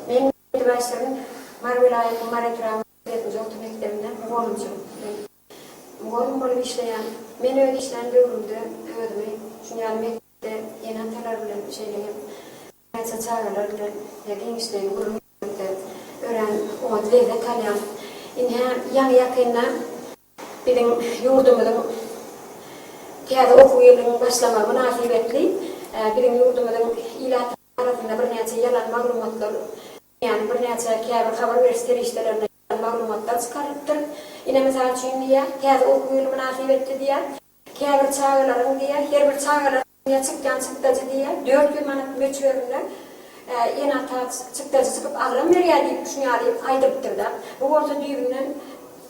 Men ýedi başlygyň Mary welaýatynyň Mary etrabynyň sekizinji orta mekdebinde mugallymçylyk etdim. Mugallym bolup işleýän. Men öz işlän döwrümde özümi şuny ýaly mekdepde ene-atalar bilen şeýle hem näçe çagalar bilen ýa giňişleýin gürrüň etmekde örän oňat lezzet alýan. Ine, ýaňy-ýakynda biziň ýurdumyzyň täze okuw ýylynyň başlamagy mynasybetli biziň ýurdumyzyň ilat. arasynda birnäçe ýalan maglumatlar, ýagny birnäçe käbir habar beriş serişdelerinde ýalan maglumatlar çykarylypdyr. Ine, mysal üçin diýýär, täze okuw ýyly mynasybetli diýýär, käbir çagalaryň diýýär, her bir çagalar üçin çykýan çykdajy diýýär, dört ýüz manat möçberinde ene-ata çykdajy çykyp agram berýär diýip, şuny ýaly aýdylypdyr-da. Bu bolsa düýbünden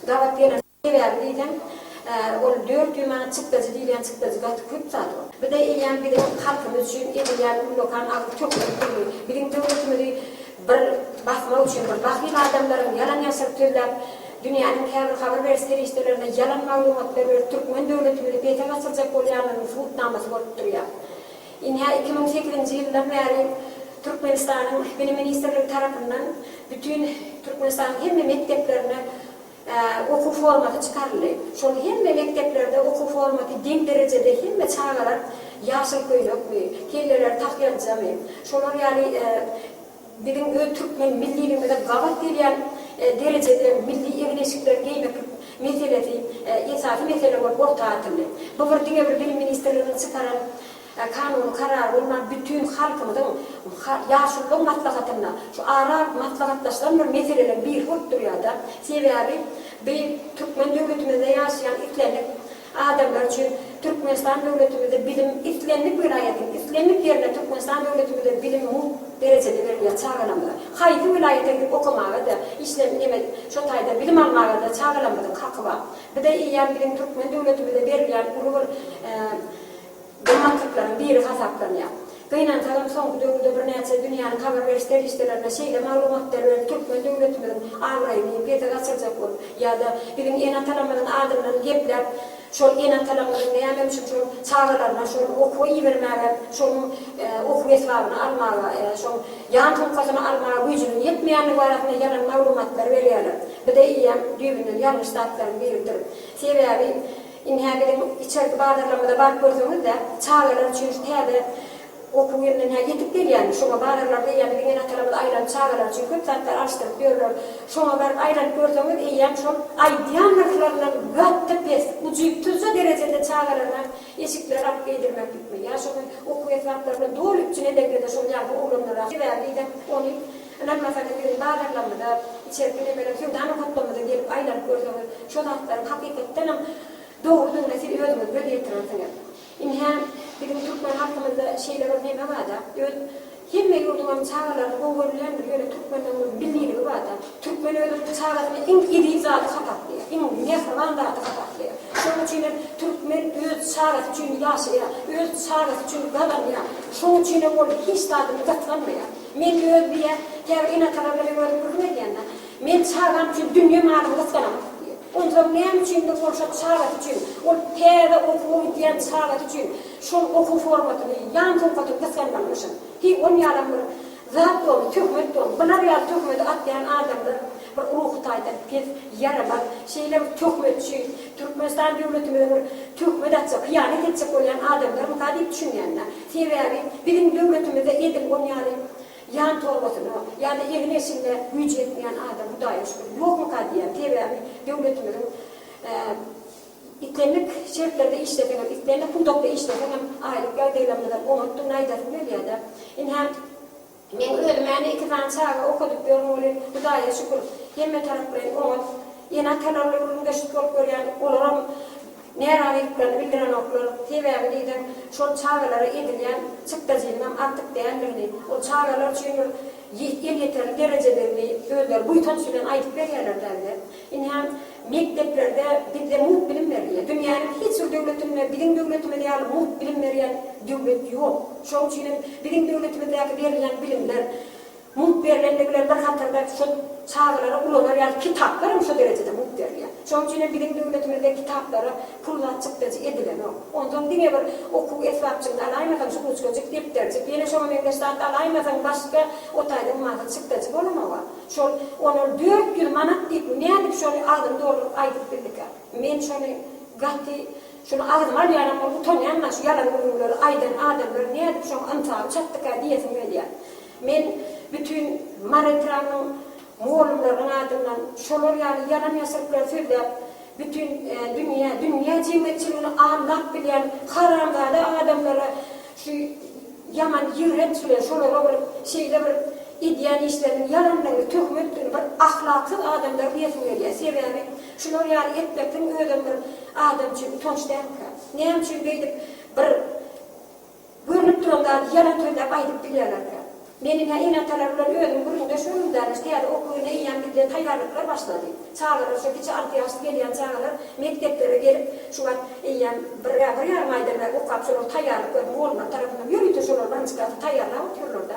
gabat gelen. Sebäbi diýseň, ol dört ýüz manat çykdajy diýilýän çykdajy gaty köp zat ol. Bize eýýäm biziň halkymyz üçin edilýän ullakan agyz tökmek boldy. Biziň döwletimizi bir basmak üçin bir bahyl adamlaryň ýalan-ýaşryk sözläp, dünýäniň käbir habar beriş serişdelerine ýalan maglumatlar berip türkmen döwletimizi pese gaçyrjak bolýanlaryň subutnamasy bolup durýar. Ynha iki müň sekizinji ýyldan bäri Türkmenistanyň Bilim ministrligi tarapyndan bütin Türkmenistanyň hemme mekdeplerine, okuw formaty çykaryldy. Şol hemme mekdeplerde okuw formaty deň derejede hemme çagalar ýaşyl köýnekmi, kelleleri tahýaljamy, şolar ýaly biziň öz türkmen milliligimize gabat gelýän derejede milli egin-eşikleri geýmeklik meselesi esasy mesele bolup orta atyldy. Bu bir diňe bir Bilim ministrliginiň çykaran Kanuny karar bolman bütin halkymyzyň ýaşululygyň maslahatynda şu ara maslahatlaşylan bir meseleden biri bolup durýada. Sebäbi bi türkmen döwletimizde ýaşaýan islendik adamlar üçin Türkmenistan döwletimizde bilim islendik welaýatyň islendik ýerine Türkmenistan döwletimizde bilim mug derejede berilýär çagalarymyza haýsy welaýata gidip okamaga da işle neme şo taýda bilim almaga da çagalarymyzyň haky bar bize eýýäm biziň türkmen döwletimizde berilýän uly bir gymmatlyklaryň biri hasaplanýar. Gynansagam, soňky döwürde birnäçe dünýäniň habar beriş serişdelerine şeýle maglumatlar berip, türkmen döwletimiziň abraýyny pese gaçyrjak bolup, ýa-da biziň ene-atalarymyzyň adyndan gepläp, şol ene-atalarymyzyň näme üçin şol çagalaryna şol okuwa ibermäge, şonuň okuw esbabyny almaga, şoň ýan sumkasyny almaga güýjüniň ýetmeýändigi barasynda ýalan maglumatlar berýärler. Bu-da eýýäm düýbünden ýalňyş zatlaryň biridir. Sebäbi. Ine, biziň içerki bazarlarymyza baryp görseňiz-de, çagalar üçin şu täze okuw ýylyna hä ýetip gelýärmi, şoňa bazarlar diýýän biziň ene-atalarymyz aýlanyp çagalar üçin köp zatlar alyşdyryp ýörler. Şoňa baryp aýlanyp görseňiz, eýýäm şol aýdýan nyrhlaryndan gaty pes, ujypsyzja derejede çagalaryňa eşikler alyp geýdirmeklikmi, ýa şony okuw esbaplaryny doly üpjün edeňde-de şol ýagny oglanlara sebäbi diýseň ony Ynanmasaňyz biziň bazarlarymyza, içerki nebeler söwda nokatlarymyza gelip aýlanyp görseňiz, şo zatlaryň hakykatdanam dogrudygyna siz özüňiz göz ýetirersiňiz. Ynha, biziň türkmen halkymyzda şeýle bir neme bar-da, öz hemme ýurduňam çagalaryny gowy görülýändir, ýöne türkmende onuň milliligi bar-da. Türkmen özüniň çagasyny iň eziz zady hasaplaýar, iň mähriban zady hasaplaýar. Şonuň üçin hem türkmen öz çagasy üçin ýaşaýar, öz çagasy üçin gazanýar. Şonuň üçin hem ol hiç zadyny gatlanmaýar. Men öz diýýär, käbir ene-atalar bilen görüp gürrüň edýände, Men çagam üçin dünýe malyny gysganamok diýýär. Onsoň näme üçindir ol şol çagasy üçin, ol täze okuwa gidýän çagasy üçin şol okuw formasyny, ýan sowkatyny gysganmalymyşyn? Heý, ol ýalam bir zat boldy, töhmet boldy. Bular ýaly töhmedi atýan adamlar bir ruhy taýdan pes, ýaramaz, şeýle bir töhmetçi, Türkmenistan döwletimize bir töhmet atjak, hyýanat etjek bolýan adamlarmyka diýip düşünýän-dä. Sebäbi biziň döwletimizde edil ol ýaly ýan torbasyna ýa-da egin-eşigine güýji ýetmeýän adam hudaýa şükür ýokmyka diýýän. Sebäbi döwletimiziň islendik şertlerde işleseň hem, islendik pudakda işleseň hem aýlyk ýagdaýlarymyzam oňatdygyny aýdasym gelýär-de. Ine, Men özüm ene iki sany çaga okadyp ýörün welin Hudaýa şükür hemme taraplaýyn oňat. Ene-atalarla gürrüňdeşlik bolup görýädik, olaram närazylyklaryny bildirenoklar. Sebäbi diýseň şol çagalara edilýän çykdajynyňam artyk däldigini, ol çagalar üçin bir elýeterli derejedigini özleri buýsanç bilen aýdyp berýärler dälde. Indi hem mekdeplerde bizde mugt bilim berilýär. Dünýäniň hiç bir döwletinde biziň döwletimiz ýaly mugt bilim berýän döwlet ýok. Şonuň üçin hem biziň döwletimizdäki berilýän bilimler, mugt berilendigi bilen bir hatarda şol çagalara ulanar ýaly kitaplar hem şo derejede mugt berilýär. Şonuň üçin hem biziň döwletimizde kitaplara pul zat çykdajy edilenok. Onsoň diňe bir okuw esbapjygyny alaýmasaň, şu ruçkajyk, depderjik, ýene şoňa meňzeş zat alaýmasaň, başga o taýdan mazur çykdajy bolanok-a. Şol, olar dört ýüz manat diýip, nädip şony agzyny dolduryp aýdyp bildikä? Men şony gaty, şuny agzyma alýanam bolup utanýan-la, şu ýalan gürrüňleri aýdan adamlar nädip şoň ynsaby çatdykä diýesim gelýär. Men bütin Mary etrabynyň mugallymlarynyň adyndan şolar ýaly ýalan-ýasyryklary sözläp, Bütin dünýä, dünýä jemgyýetçiligini aldap bilýän haramzada adamlara şu ýaman ýigrenç bilen şolara bir şeýle bir edýän işleriniň ýalandygyny, töhmetdigini, bir ahlaksyz adamlar diýesim gelýär. Sebäbi şular ýaly etmekligiň özem bir adam üçin utanç dälmikä? Näme üçin beýdip bir. Görnüp duran zady ýalan sözläp aýdyp bilýärlerkä? Meniň-ä ene-atalar bilen özüm gürrüňdeş boldum däne, şu ýerde okuw ýyly eýýäm gidýän taýýarlyklar başlady. Çagalar şu kiçi alty ýaşly gelýän çagalar mekdeplere gelip şu wagt eýýäm bir-ä bir ýarym aýdan bäri okap şolar taýýarlyk özüm oglanlar tarapyndan ýörite şolar waniçkasy taýýarlap otyrlar-da.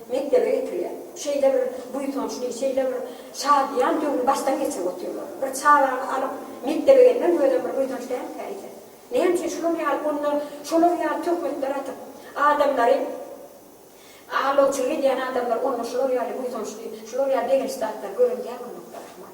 mekdebe getirýär. Şeýle bir buýsançly, şeýle bir şadyýan döwri başdan geçirip otyrlar. Bir çagany alyp, mekdebe gelmek özem bir buýsanç dälmikä eýsem? Näme üçin şular ýaly onda şolar ýaly töhmetler atyp, adamlary aldawçylyk edýän adamlar onda şular ýaly buýsançly, şular ýaly begençli zatlar gören däl bolmakda, Rahman?